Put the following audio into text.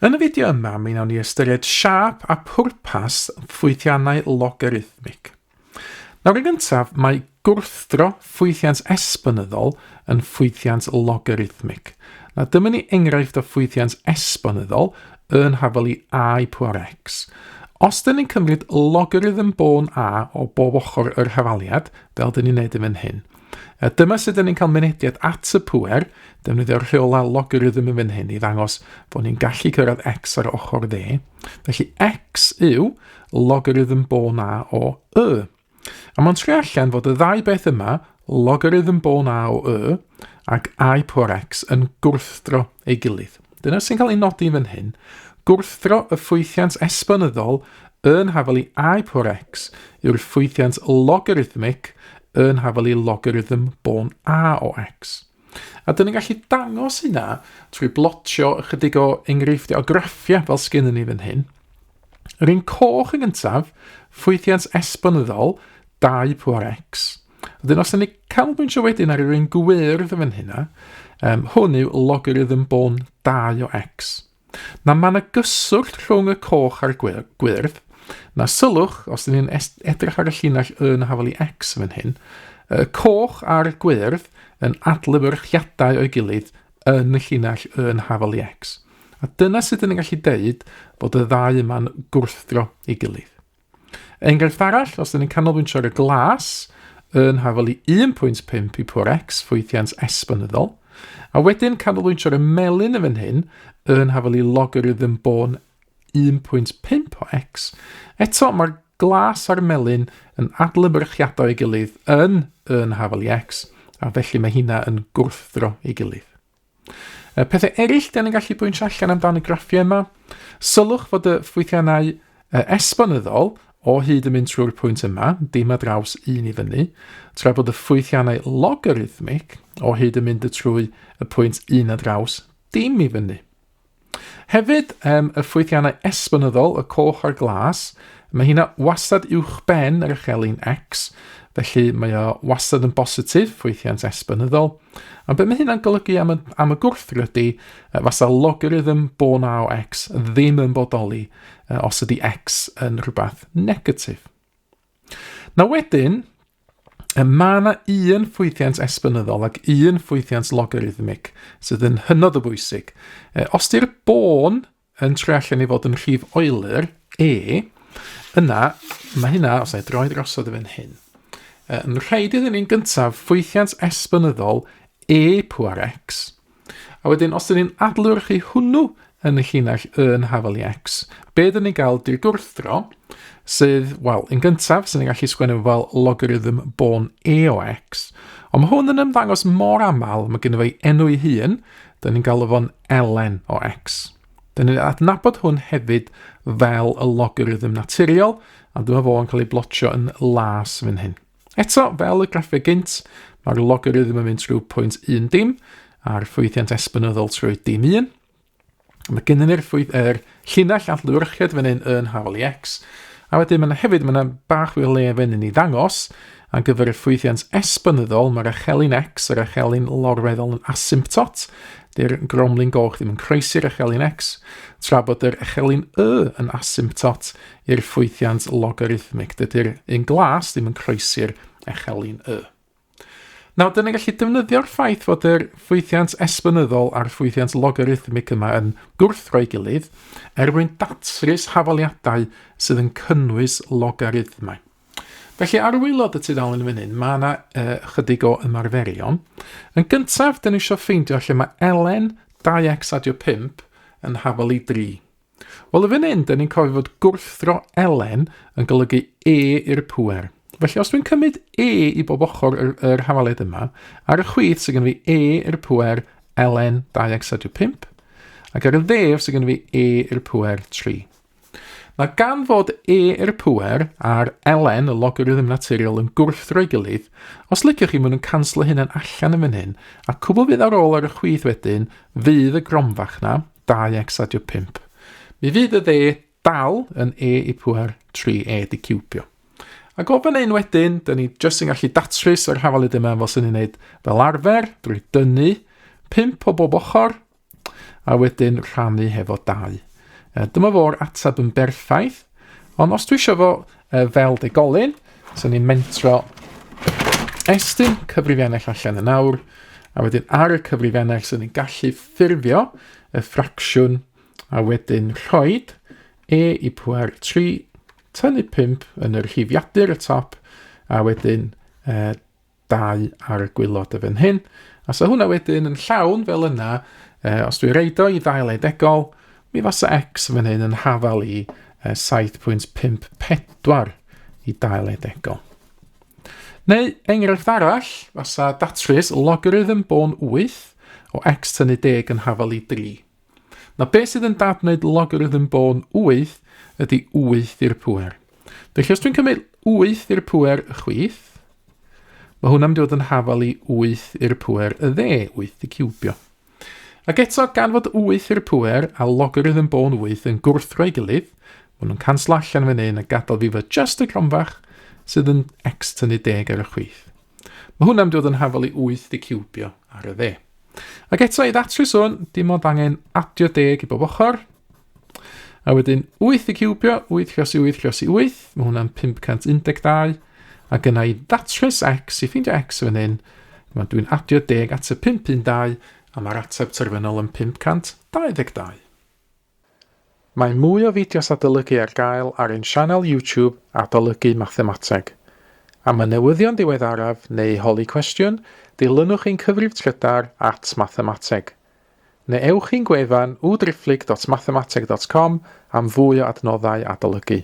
Yn y fideo yma, mi wnawn ni ystyried siâp a phwrpas ffwythiannau logarithmig. Nawr yn gyntaf, mae gwrthdro ffwythiant esbonyddol yn ffwythiant logarithmig. Na dyma ni enghraifft o ffwythiant esbonyddol yn hafel i a i pŵar x. Os dyn ni'n cymryd logarithm bôn a o bob ochr yr hafaliad, fel dyn ni'n neud yn fan hyn, A dyma sut dyn ni'n cael mynediad at y pŵer, defnyddio'r rheolau logarithm yn fan hyn i ddangos bod ni'n gallu cyrraedd x ar ochr dde. Felly x yw logarithm bo na o y. A mae'n tri allan fod y ddau beth yma, logarithm bo na o y ac i pŵer x yn gwrthdro ei gilydd. Dyna sy'n cael ei nodi fan hyn, gwrthdro y ffwythiant esbonyddol yn hafelu i por x yw'r ffwythiant logarithmic yn hafelu logarithm bôn a o x. A dyn ni'n gallu dangos hynna trwy blotio ychydig o enghreifftiau o graffiau fel sgyn ni fan hyn. Yr un coch yn gyntaf, ffwythiant esbonyddol 2 por x, Wedyn os ydyn ni canolbwyntio wedyn ar yr un gwyrdd yn hynna, um, hwn yw logarithm bôn 2 o x. Na mae yna gyswllt rhwng y coch a'r gwyrdd, na sylwch, os ydyn ni'n edrych ar y llinell y na hafel i x yn hyn, y coch a'r gwyrdd yn adlewyrchiadau o'i gilydd yn y llinell y yn hafel i x. A dyna sut ydyn ni'n gallu deud bod y ddau yma'n gwrthdro ei gilydd. Enghraifft arall, os ydyn ni'n canolbwyntio ar y glas, yn hafol i 1.5 i pwr x ffwythiant esbonyddol, a wedyn canolbwyntio ar y melyn y fan hyn, yn hafol i logarithm bôn 1.5 o x. Eto, mae'r glas a'r melyn yn adlewyrchiadau ei gilydd yn yn hafol i x, a felly mae hynna yn gwrthdro ei gilydd. Y pethau eraill dan ni'n gallu bwynt allan amdan y graffiau yma, sylwch fod y ffwythiannau esbonyddol o hyd yn mynd trwy'r pwynt yma, dim a draws un i fyny, tra bod y ffwythiannau logarithmic o hyd yn mynd y trwy y pwynt un a draws dim i fyny. Hefyd, um, y ffwythiannau esbonyddol, y coch a'r glas, mae hynna wastad uwch ben yr echelin X, felly mae o wastad yn bositif, ffwythiant esbonyddol. A beth mae hynna'n golygu am y, am y gwrthrydi, uh, fasa logarithm bo na o X ddim yn bodoli uh, os ydy X yn rhywbeth negatif. Na wedyn, mae yna un ffwythiant esbynyddol ac un ffwythiant logarithmig sydd yn hynod o bwysig. E, os di'r bôn yn troi allan i fod yn rhif oelur, e, yna mae hynna, os na i droi drosodd i fan hyn, yn rhaid iddyn ni'n gyntaf ffwythiant esbynyddol e pŵar x, A wedyn, os ydyn ni'n adlewyrchu hwnnw yn y llinell y yn hafel i x, be dyn ni'n gael di'r gwrthdro, sydd, wel, yn gyntaf, sy'n ni'n gallu sgwennu fel logarithm bôn e o x, ond mae hwn yn ymddangos mor aml, mae gen i enw ei hun, dyn ni'n galw fo'n elen o x. Dyn ni'n adnabod hwn hefyd fel y logarithm naturiol, a dyma fo yn cael ei blotio yn las fan hyn. Eto, fel y graffeg gynt, mae'r logarithm yn mynd trwy pwynt 1 dim a'r ffwythiant esbynyddol trwy dim 1. Mae gennym ni'r ffwyth er llinell allwyrchiad fan hyn yn hawl i x, a wedyn mae yna hefyd mae yna bach fwy o le fan hyn i ddangos ar gyfer y ffwythiant esbynyddol mae'r echelin x yr echelin lorweddol yn asymptot, dy'r gromlin goch ddim yn croesi'r echelin x, tra bod yr echelin y yn asymptot I'r ffwythiant logarithmig, dydy'r un glas ddim yn croesi'r echelin y. Nawr, dyna gallu defnyddio'r ffaith fod yr ffwythiant esbonyddol a'r ffwythiant logarithmig yma yn gwrthdro'i gilydd er mwyn datrys hafaliadau sydd yn cynnwys logarithmau. Felly, ar wylod y tudalen fan hyn, mae yna uh, chydig o ymarferion. Yn gyntaf, dyn ni eisiau ffeindio lle mae ln 2x adio 5 yn hafal i 3. Wel, y fan hyn, da ni'n cofio fod gwrthdro Elen yn golygu E i'r pwer. Felly, os dwi'n cymryd E i bob ochr yr, yr hafaliad yma, ar y chwith sy'n gen fi E i'r pwer Elen 2 ac 5, ac ar y ddef sy'n gen fi E i'r pwer 3. Mae gan fod E i'r pwer a'r Elen, y logarithm naturiol, yn gwrthdro ei gilydd, os liciwch chi, maen nhw'n canslo hynna'n allan yn fan hyn, a cwbl fydd ar ôl ar y chwith wedyn fydd y gromfach na, 2 exadio 5. Mi fydd y dde dal yn e i pwer 3 e di cwbio. A gof yn ein wedyn, dyn ni jyst yn gallu datrys yr hafalyd yma fel sy'n ei wneud fel arfer drwy dynnu 5 o bob ochr a wedyn rhannu hefo 2. Dyma fo'r ateb yn berffaith. Ond os dwi eisiau fo uh, fel degolyn, so ni'n mentro estyn cyfrifiannell allan yn awr, a wedyn ar y cyfrifiannell so ni'n gallu ffurfio y ffracsiwn a wedyn rhoi e i pwer 3, tynnu 5 yn yr hifiadur y top, a wedyn uh, dau ar y gwylod y fan hyn. A so hwnna wedyn yn llawn fel yna, uh, os dwi reid o i ddail edegol, mi fasa x fan hyn yn hafal i uh, 7.54 i dail edegol. Neu enghraifft arall, fasa datrys logarithm bôn 8 o x tynnu deg yn hafal i 3. Mae beth sydd yn dad wneud logarithm bôn 8 ydy 8 i'r pwer. Felly os dwi'n cymryd 8 i'r pwer y chwith, mae hwnna'n mynd i fod yn hafal i 8 i'r pwer y dde, 8 di cwbio. Ac eto, gan fod 8 i'r pwer a logarithm bôn 8 yn gwrthro'i gilydd, maen nhw'n canslo allan fan hyn a gadael fi fod just y gronfach sydd yn x tynnu deg ar y chwith. Mae hwn am dod yn hafol i 8 i ciwbio ar y dde. Ac eto i ddatrys hwn, dim ond angen adio deg i bob ochr. A wedyn 8 i ciwbio, 8 croes i 8 croes i 8, mae hwnna'n 512. Ac yna i ddatrys x, i ffeindio x fan hyn, mae dwi'n adio deg at y 512, a mae'r ateb terfynol yn 522. Mae mwy o fideos adolygu ar gael ar ein sianel YouTube Adolygu Mathemateg. Am y newyddion diweddaraf neu holi cwestiwn, dilynwch ein cyfrif trydar at Mathemateg. Neu ewch i'n gwefan www.driphlyg.mathemateg.com am fwy o adnoddau adolygu.